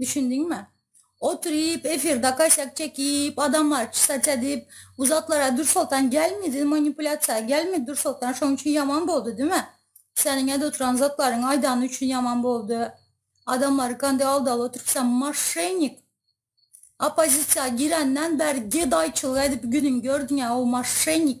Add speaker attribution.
Speaker 1: Düşündiňmi? Oturyp, efirde kaşak çekip, adamlary çysaç edip, bu zatlara Dürsoltan gelmedi, manipulýasiýa gelmedi Dürsoltan, şonuň üçin ýaman boldy, diýme. Seniň edip oturan zatlaryňy aýdany üçin ýaman boldy. Adamlary kande aldaly oturyp, sen moşennik. Oppozisiýa girenden bäri gedaýçylyk edip günüňi gördüň-ä, o moşennik.